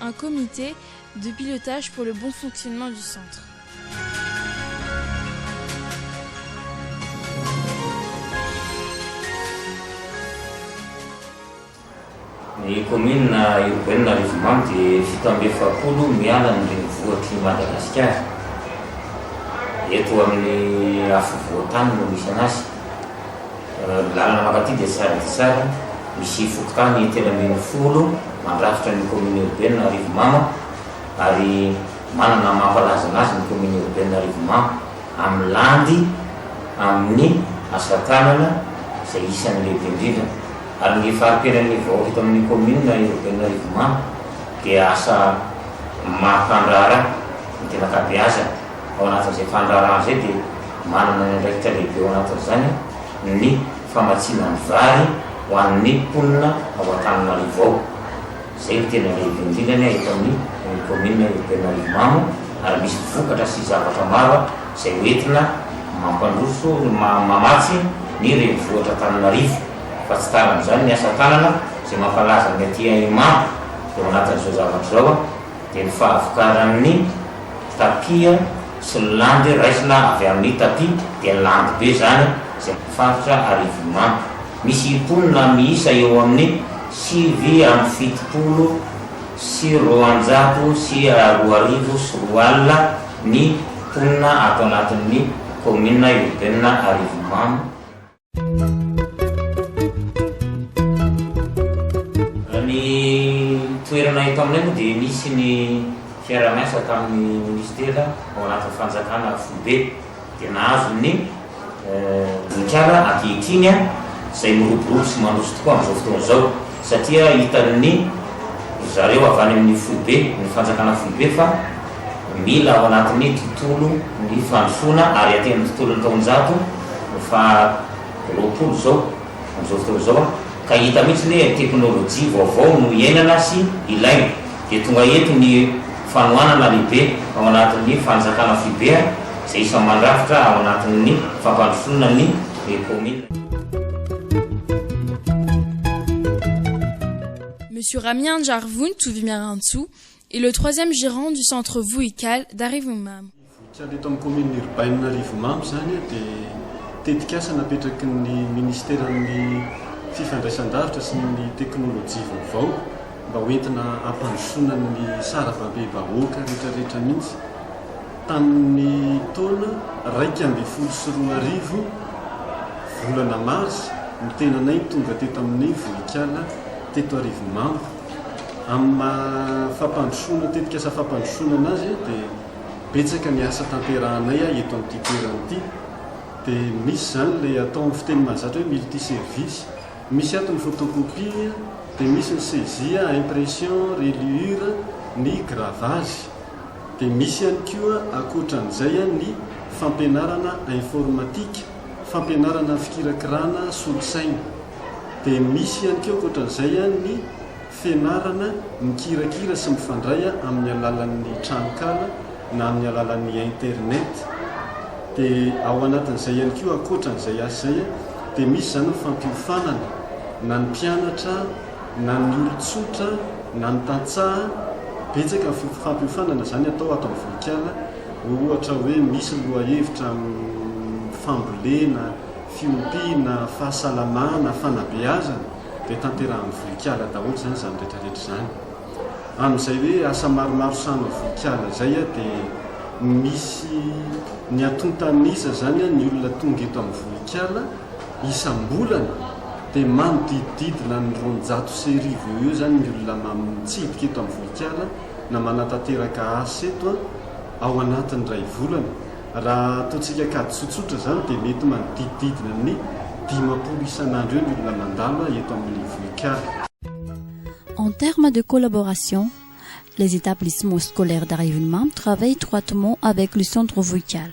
un comité de pilotage pour le bon fonctionnement du centre. Ny kaominina urbaine Arivomamo dia fito amby efapolo miala ny renivohitr'i Madagasikara. Eto amin'ny afovoan-tany no misy anazy. Lalana mankaty dia sary dia sary misy fokontany telo ambin'ny folo mandrafitra ny kaominina Iorbenina Arivomamo ary manana ny mampalaza anazy ny kaominina Iorbenina Arivomamo amin'ny landy amin'ny asa tanana izay isan'ny lehibe indrindra ary ny fari-piainan'ny vahoaka eto amin'ny kaominina Iorbenina Arivomamo dia asa mampandraharaha ny tena ankabeazany. ao anatin'izay fandraharahana izay dia manana ny andraikitra lehibe ao anatin'izany ny famatsiana ny vary ho an'ny mponina ao Antananarivo ao. Izay no tena lehibe indrindra ny eto amin'ny kaominina urbaine Ankivimamo ary misy vokatra sy zavatra maro izay ho entina mampandroso mamatsy ny renivohitra Antananarivo fa tsy tara amin'izany ny asa tanana izay mampalaza ny aty Imamo eo anatin'izao zavatra izao. dia ny fahavokaran'ny tapia sy ny landy raisina avy amin'ny tapia dia landy be izany izay amin'ny faritra Arivonimamo. Misy mponina miisa eo amin'ny sivy amby fitopolo sy roanjato sy roa arivo sy roa alina ny mponina ato anatin'ny kaominina urbaine Arivonimamo. Ny toerana eto aminay moa dia nisy ny fiaraha-miasa tamin'ny Minisitera ao anatin'ny Fanjakana foibe dia nahazo ny. Vohikala ankehitriny izay miroborobo sy mandroso tokoa amin'izao fotoana izao. satria hitan'ny ry zareo avy any amin'ny foibe, ny fanjakana foibe fa mila ao anatin'ny tontolo ny fandrosoana ary aty amin'ny tontolon'ny taonjato faha roapolo izao amin'izao fotoana izao an, ka hita mihitsy ny hoe teknolojia vaovao no iainana sy ilaina, dia tonga eto ny fanohanana lehibe ao anatin'ny fanjakana foibe izay isan'ny mandrafitra ao anatin'ny fampandrosoana ny. ny kaominina. Monsieur Rami Hanjary Vonitovi Miarantsoa est le troisième gérant du centre Vohikala d'Arivonimamo. Vohikala eto amin'ny kaominina urbaine Arivonimamo izany dia tetikasa napetraky ny minisiteran'ny Fifandraisan-davitra sy ny teknolojia vaovao mba hoentina hampandrosoana ny sarababem-bahoaka rehetrarehetra mihitsy. Tamin' ny taona iraika ambin'ny folo sy roa arivo, volana Marsa, ny tenanay tonga teto amin' ny vohikala teto Arivonimamo. Amin' ny maha fampandrosoana tetikasa fampandrosoana anazy dia betsaka ny asa tanterahanay eto amin' ity toerana ity. Dia misy izany ilay atao amin' ny fiteny mahazatra hoe multiservice. Misy ato ny photocopie, dia misy ny saisie, impression, reliure, ny gravage. Dia misy ihany koa ankoatran'izay ny fampianarana informatika, fampianarana fikirakirana solosaina. Dia misy ihany koa ankoatran'izay ny fianarana mikirakira sy mifandray amin'ny alalan'ny tranonkala na amin'ny alalan'ny internet. Dia ao anatin'izay ihany koa ankoatran'izay asa izay dia misy izany ny fampiofanana na ny mpianatra, na ny olon-tsotra na ny tantsaha, betsaka ny fampiofanana izany atao ato amin'ny vohikala, ohatra hoe misy ny lohahevitra amin'ny fambolena, fiompiana, fahasalamana, fanabeazana dia tanterahan'ny vohikala daholo izany izany rehetrarehetra izany. Amin'izay hoe asa maromaro sahan'ny vohikala izay dia misy ny atontan'isa izany ny olona tonga eto amin'ny vohikala, Isam-bolana dia manodidididina ny roanjato sy arivo eo eo izany ny olona mitsidika eto amin'ny vohikala na manatanteraka asa eto ao anatin'ny iray volana. Raha ataontsika kajy tsotsotra izany dia mety manodidididina ny dimampolo isan'andro eo ny olona mandalo eto amin'ny vohikala. En termes de collaboration, les etablissements scolaires d'Arivonimamo travaillent étroitement avec le centre vohikala.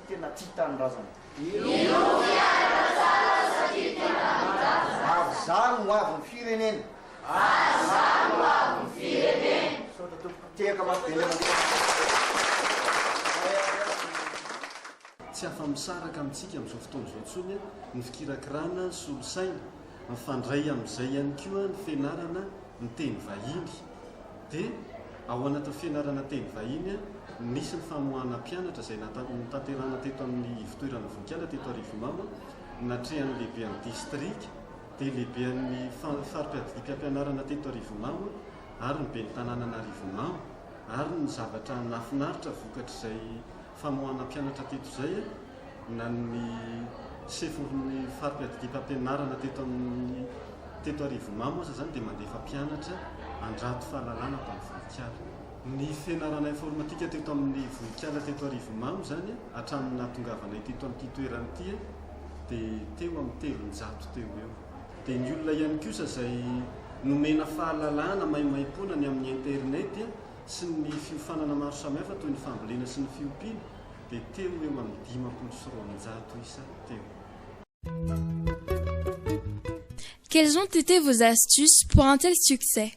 tena tia tanindrazana. Miompy any Masala satria tia tanindrazana. Avy zah no avy ny firenena. Avy zah no avy ny firenena. Misaotra tompoko. Tehaka maso be indray mandeha. Tsy afa-misaraka amintsika amin'izao fotoana izao intsony ny fikirakirana ny solosaina, mifandray amin'izay ihany koa ny fianarana ny teny vahiny. Dia ao anatin'ny fianarana teny vahiny, nisy ny famoahana mpianatra izay notanterahina teto amin'ny ivotoerana Vohikala teto Arivonimamo, natrehan'ny lehibean'ny distrika, dia lehibean'ny fari-piadidiam-piampianarana teto Arivonimamo ary ny ben'ny tanànan'Arivonimamo ary ny zavatra nahafinaritra vokatr'izay famoahana mpianatra teto izay na ny sefolin'ny fari-piadidiam-pampianarana teto amin'ny teto Arivomamo aza izany dia mandefa mpianatra handrato fahalalana ato amin'ny vohikala. Ny fianarana informatika teto amin'ny vohikala teto Arivomamo izany hatramin'ny nahatongavanay teto amin'ity toerana ity dia teo amin'ny telonjato teo ho eo. Dia ny olona ihany kosa izay nomena fahalalana maimaimpoana ny amin'ny internet. sy ny fiofanana maro samihafa toy ny fambolena sy ny fiompiana dia teo eo amin'ny dimampolo sy roanjato isa teo. Quelles ont été vos astuces pour un tel succès?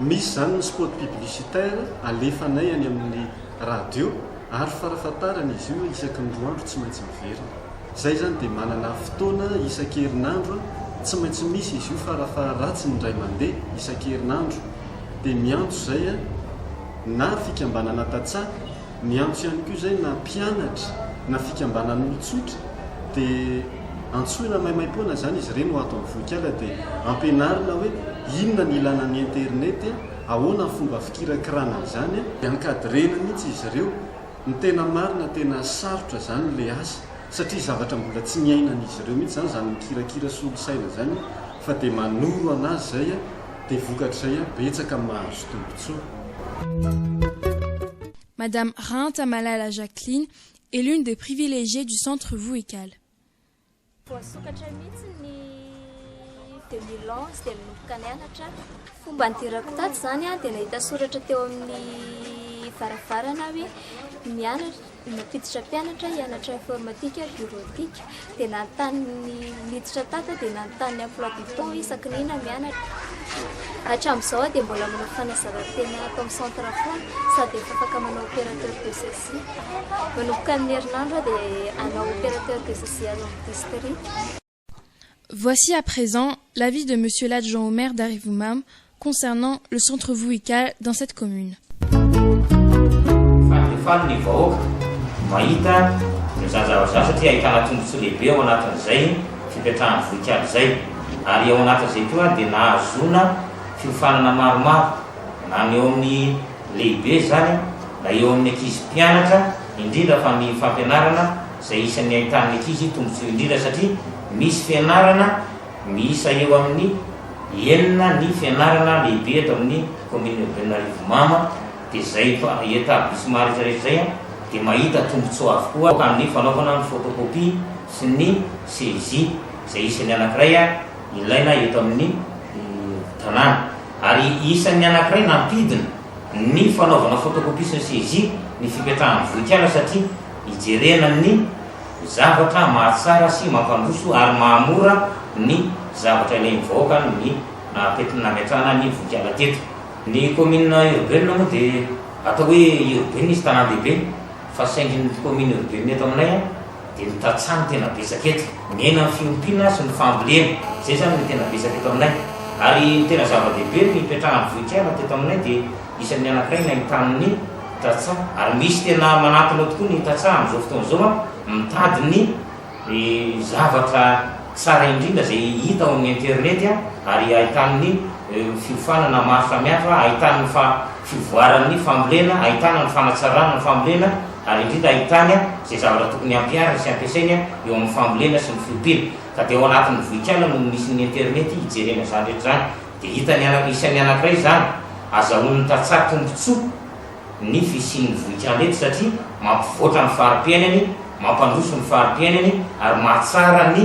Misy izany ny spot publicitaire alefanay any amin'ny radio ary farafahatarany izy io isaky ny roa andro tsy maintsy miverina. Izay izany dia manana fotoana isan-kerinandro tsy maintsy misy izy io farafaharatsiny indray mandeha isan-kerinandro dia miantso izay na fikambanana tantsaha, miantso ihany koa izay na mpianatra na fikambanan'olon-tsotra dia antsoina maimaimpoana izany izy ireny ho ato amin'ny vohikala dia ampianarina hoe inona ny ilana ny internet. Ahoana ny fomba fikirakirana an'izany a? Dia encadrena mihitsy izy ireo. Ny tena marina tena sarotra izany ilay asa satria zavatra mbola tsy niainan'izy ireo mihitsy izany izany mikirakira solosaina izany fa dia manoro an'azy izay a, dia vokatr'izay a betsaka mahazo tombontsoa. Madame Rahantamalala Jacqueline est l'une des privilégiées du Centre Vohical. Voasokatra mihitsy ny 2011 dia nanomboka nianatra. Fomba nidirako tato izany dia nahita soratra teo amin'ny varavarana hoe mianatra nampiditra mpianatra hianatra informatika bureautique dia nanontany niditra tato dia nanontany ny emploi du temps isaky ny inona mianatra. Hatramin'izao aho dia mbola manao fanazarantena ato amin'ny centre foana sady efa afaka manao opérateur de gestion. Manomboka amin'ny herinandro aho dia hanao opérateur de social ao amin'ny district. Voici à présent l'avis de Monsieur l'adjoint au maire d'Arivumam concernant le centre Vuical dans cette commune. Faly dia faly ny vahoaka mahita izany zavatra izany satria ahitana tombontsoa lehibe ao anatin'izay fipetrahan'ny Vuical izay ary ao anatin'izay koa dia nahazoana fiofanana maromaro na ny eo amin'ny lehibe izany na eo amin'ny ankizy mpianatra indrindra fa ny fampianarana izay isan'ny ahitan'ny ankizy tombontsoa indrindra satria misy fianarana miisa eo amin'ny enina ny fianarana lehibe eto amin'ny commune urbaine Arivomamo dia izay etablissements rehetra rehetra izay dia mahita tombontsoa avokoa amin'ny fanaovana ny photocopie sy ny saisie izay isan'ny anankiray ilaina eto amin'ny tanàna. ary isan'ny anankiray nampidina ny fanaovana photocopie sy ny saisie ny fipetrahan'ny vohikala satria ijerena ny zavatra mahatsara sy mampandroso ary mahamora ny zavatra ilain'ny vahoaka ny nahapetrany nametrahana ny vohikala teto. Ny kaominina urbaine moa dia atao hoe urbaine izy tanàn-dehibe fa saingy ny kaominina urbaine eto aminay a. Dia ny tantsaha no tena betsaka eto. Mihena ny fiompiana sy ny fambolena. Izay izany no tena betsaka eto aminay. Ary ny tena zava-dehibe ny hipetrahan'ny vohikala teto aminay dia isan'ny anankiray nahitan'ny tantsaha. Ary misy tena manantona eo tokoa ny tantsaha amin'izao fotoana izao an, mitady ny zavatra tsara indrindra izay hita ao amin'ny internet an, ary ahitany ny fiofanana maro samihafa, ahitany ny fa fivoaran'ny fambolena, ahitana ny fanatsarana ny fambolena. Ary indrindra ahitany izay zavatra tokony hampihariny sy hampiasainy eo amin'ny fambolena sy ny fiompiana. Ka dia ao anatin'ny vohikala no misy ny internet hijerena izany rehetra izany. Dia hitany araka isan'ny anankiray izany. Azahoan'ny tantsaha tombontsoa ny fisian'ny vohikala eto satria mampivoatra ny fari-piainany, mampandroso ny fari-piainany ary mahatsara ny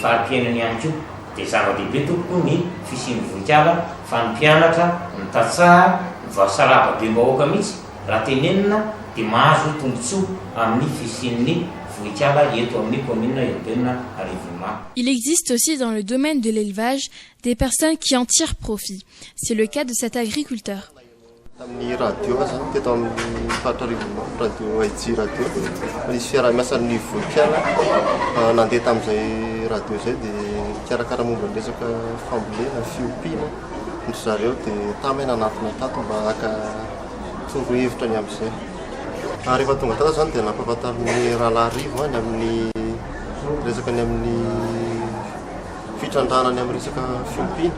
fari-piainany ihany koa. Dia zava-dehibe tompoko ny fisian'ny vohikala fa ny mpianatra, ny tantsaha, ny vavy sarahababem-bahoaka mihitsy. Raha tenenina dia mahazo tombontsoa amin'ny fisian'ny vohikala eto amin'ny kaominina urbaine Arivonimamo. Il existe aussi dans le domaine de l'élevage des personnes qui en tirent profit. C'est le cas de cet agriculteur. Tamin'ny radio aza, teto amin'ny faritra Arivonimamo, radio AIJ radio, nisy fiaraha-miasan'ny vohikala nandeha tamin'izay radio izay dia nikarakara momba ny resaka fambolena, fiompiana, ry zareo dia tamy aho nanatona tato mba haka torohevitra ny amin'izay. Ary rehefa tonga tany izany dia nampahafantarin'ny Rahalahy Rivo ny amin'ny resaka ny amin'ny fitrandrahana ny amin'ny resaka fiompiana.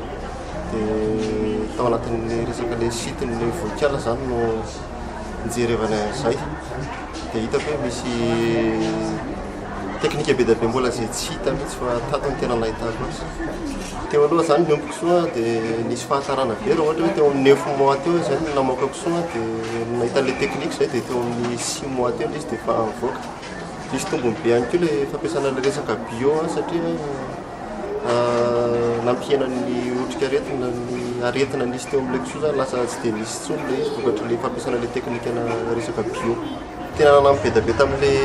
Dia tao anatin'ny resaka ilay site ny vohikala izany no nijerevana an'izay. Tsy dia hitako hoe misy teknika be dia be mbola izay tsy hita mihitsy fa tato no tena nahitako azy. Teo aloha izany ny omby kisoa dia nisy fahatarana vera ohatra hoe teo amin'ny neuf mois teo izay no namoaka kisoa dia nahita an'ilay teknika izay dia teo amin'ny six mois teo ilay izy dia efa nivoaka. Nisy tombony be ihany koa ilay fampiasana ilay resaka bio satria nampihena ny otrikaretina ny aretina nisy teo amin'ilay kisoa zany lasa tsy dia nisy intsony ilay izy vokatr'ilay fampiasana ilay teknikana resaka bio. Tena nanampy be dia be tamin'ilay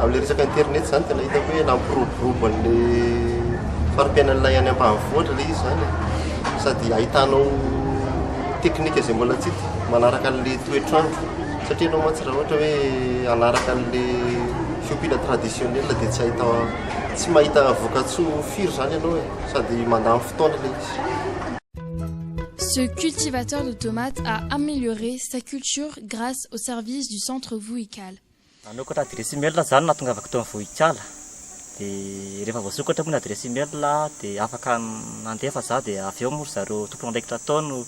amin'ilay resaka internet zany tena hitako hoe nampiroborobo an'ilay fari-piainan'ilay any ampahavoatra ilay izy zany e. Sady ahitanao teknika izay mbola tsy hita manaraka an'ilay toetr'andro satria ianao mantsy raha ohatra hoe hanaraka an'ilay Fiompiana traditionnelle dia tsy ahita tsy mahita vokatsoa firy zany ianao e, sady mandany fotoana ilay izy. Ce cultivateur de tomates a amélioré sa culture grâce aux services du centre Vohikala. Nanokatra adiresy email za no nahatongavako tao amin'ny Vohikala. Dia rehefa voasokatra moa ny adiresy email dia afaka nandefa za dia avy eo moa ry zareo tompon'andraikitra tao no.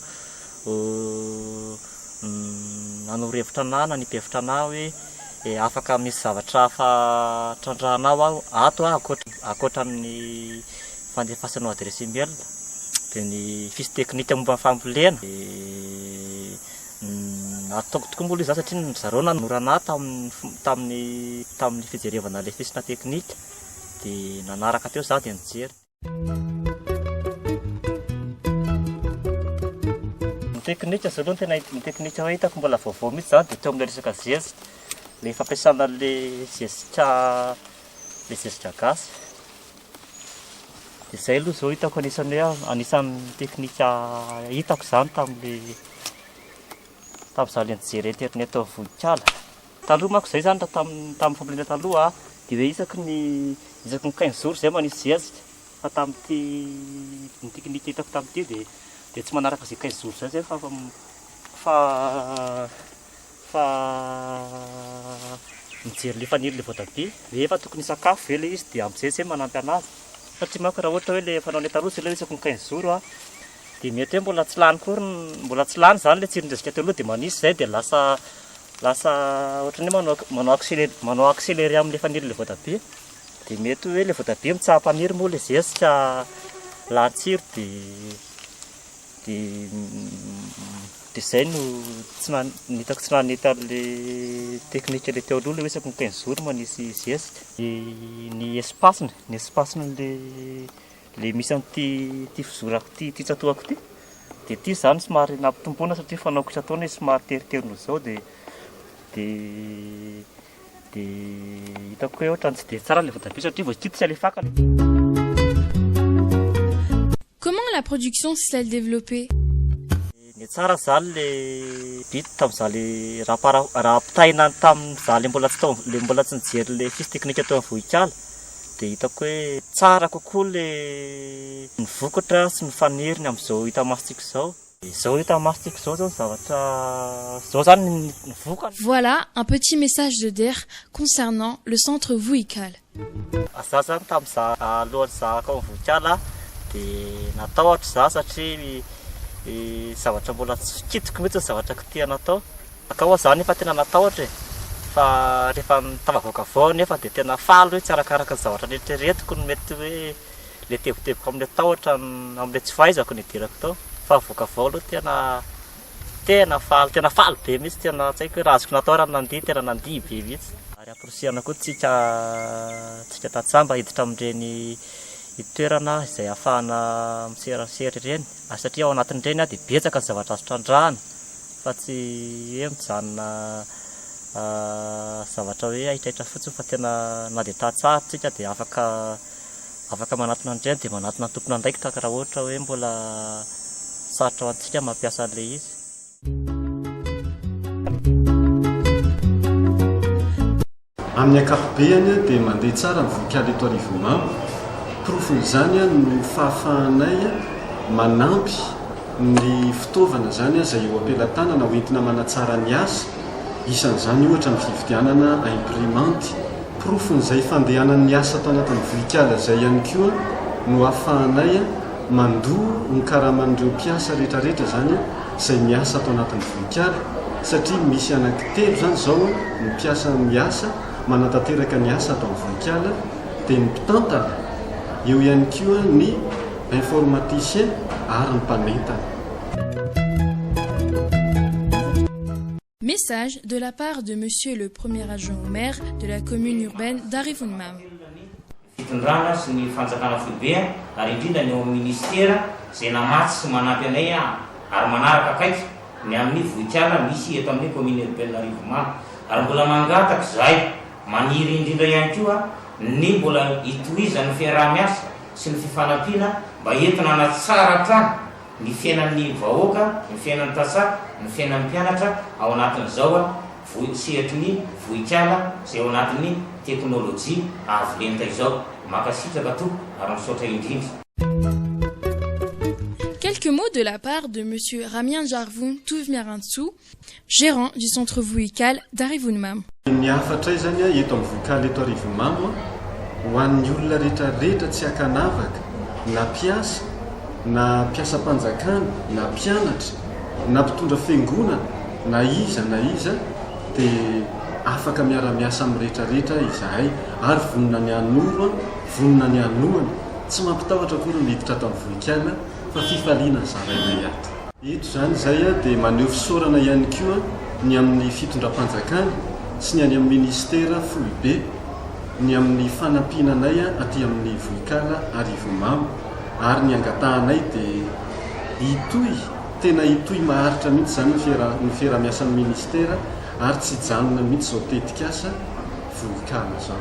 Ho nanoro hevitra an'Anna ny mpihevitra anà hoe, E, afaka misy zavatra hafa trandrahanao aho ato a, ankoatra ny fandefasanao adiresy e-mail, dia ny fiche technique momba ny fambolena, dia ataoko tokoa moa ilay izaho satria ry zareo nanoro anà tamin'ny fijerevana ilay fiche technique, dia nanaraka teo izaho dia nijery. Ny teknika izao aloha no tena ny teknika hoe hitako mbola vaovao mihitsy izany dia teo amin'ilay resaka zezika, ilay fampiasana an'ilay zezika ilay zezika gasy. Dia izay aloha izao hitako anisan'ny hoe anisan'ny teknika hitako izany tamin'ilay tamin'izaho ilay nijery internet tao Vohikala. Taloha manko izay izany raha tamin'ny tamin'ny fambolena taloha dia hoe isaky ny isaky ny quinze jours izay manisy zezika fa tamin'ity ny technique hitako tamin'ity dia dia tsy manaraka izay quinze jours izay izay fa fa fa mijery ilay fanilo ilay voatabia hoe efa tokony hisakafo ve ilay izy dia amin'izay izay manampy an'azy satria manko raha ohatra hoe ilay fanao ny taloha izay hoe isaky ny quinze jours dia mety hoe mbola tsy lany koa mbola tsy lany izany ilay tsiron-dresaka teo aloha dia manisy izay dia lasa lasa ohatran'ny hoe manao manao accéléré manao accéléré amin'ilay fanirin'ilay voatabia dia mety hoe ilay voatabia mitsaha-paniry moa ilay zezika lany tsiro dia dia dia izay no tsy na- ny hitako tsy nanety an'ilay teknika ilay teo aloha ilay hoe isaky ny quinze jours manisy zezika dia ny espace-ny ny espace-n'ilay Ilay misy an'ity fizorako ity, ity tsatohako ity, dia ity izany somary nampitomboina satria fanaoko isan-taona izy somary teritery noho izao dia dia hitako hoe ohatran'ny tsy dia tsara ilay voatabia satria vao kikisa ilay faka ilay Comment la production s'est-elle développée? Ne tsara zany le bit tam za le ra par ra apitahina tam za le mbola tsy tao le mbola tsy nijery le fiche technique teo am vohikala de hitako hoe tsara kokoa le ny vokatra sy ny faniry ny am zao hita masontsika zao. Zao hita masontsika zao zao ny zavatra zao zany ny vokany. Voilà un petit message de der concernant le centre Vohikala. Za zany tam za alohan'ny zahako ny vohikala dia natahotro za satria zavatra mbola tsy kitiko mihitsy ny zavatra kitihana atao. Kay moa za nefa tena natahotra e! fa rehefa tafavoaka avy ao nefa dia tena faly hoe tsy arakaraka ny zavatra neritreretiko ny mety hoe le teboteboka amle tahotra amle tsy fahaizako no hidirako tao fa avoaka avy ao aloha tena Tena faly, tena faly be mihitsy, tena tsy haiko hoe raha azoko natao raha nandihy, tena nandihy be mihitsy. Ary amporisihana koa tsika tsika tantsaha mba hiditra amin'ireny toerana izay ahafahana miserasera ireny, ary satria ao anatin'ireny dia betsaka ny zavatra azo trandrahana fa tsy hoe mijanona zavatra hoe aitraitra fotsiny fa tena na dia tantsaha ary tsika dia afaka Afaka manatona an'i Jane dia manatona ny tompon'andraikitra ka raha ohatra hoe mbola sarotra ho antsika ny mampiasa an'ilay izy. Amin'ny ankapobehany dia mandeha tsara ny vohikala eto Arivonimamo. Porofon'izany no fahafahanay manampy ny fitaovana izany izay eo am-pelatanana ho entina manatsara ny asa. Isan'izany ohatra ny fividianana imprimanty. Porofon'izay fandehanan'ny asa tao anatin'ny vohikala izay ihany koa no ahafahanay mandoa ny karaman'ireo mpiasa rehetrarehetra izany izay miasa ato anatin'ny vohikala satria misy anankitelo izany izao ny mpiasa miasa manatanteraka ny asa ato amin'ny vohikala dia ny mpitantana, eo ihany koa ny informaticien ary ny mpanentana. Message de la part de Monsieur le Premier Adjoint au Maire de la Commune Urbaine d'Arivonimamo. Fitondrana sy ny Fanjakana Foibe ary indrindra ny ao amin'ny Minisitera izay namatsy sy manampy anay ary manaraka akaiky ny amin'ny vohikala misy eto amin'ny Commune Urbaine Arivonimamo ary mbola mangataka izahay maniry indrindra ihany koa ny mbola hitohizan'ny fiaraha-miasa sy ny fifanampiana mba entina hanatsara hatrany ny fiainan'ny vahoaka, ny fiainan'ny tantsaha, ny fiainan'ny mpianatra ao anatin'izao voi, sehatry ny vohikala izay ao anatin'ny teknolojia avo lenta izao. Mankasitraka tompoko ary misaotra indrindra. Quelques mots de la part de Monsieur Ramian Jarvon Toivimiarantsoa, Gérant du centre Vohikala d'Arivonimamo. Ny hafatray izany eto amin'ny Vohikala eto Arivonimamo ho an'ny olona rehetrarehetra tsy ankanavaka na mpiasa na mpiasam-panjakana na mpianatra na mpitondra fiangonana na iza na iza dia afaka miara-miasa amin'ny rehetrarehetra izahay ary vonona ny hanoro vonona ny hanohana tsy mampitahotra akory ny miditra ato amin'ny Vohikala fa fifaliana zarainay ato. Eto izany izay dia maneho fisaorana ihany koa ny amin'ny fitondram-panjakana sy ny any amin'ny minisitera foibe ny amin'ny fanampiana anay aty amin'ny vohikala Arivomamo ary ny angatahanay dia hitohy tena hitohy maharitra mihitsy izany ny fiarahamiasan'ny minisitera ary tsy hijanona mihitsy izao tetikasa vohikala izao.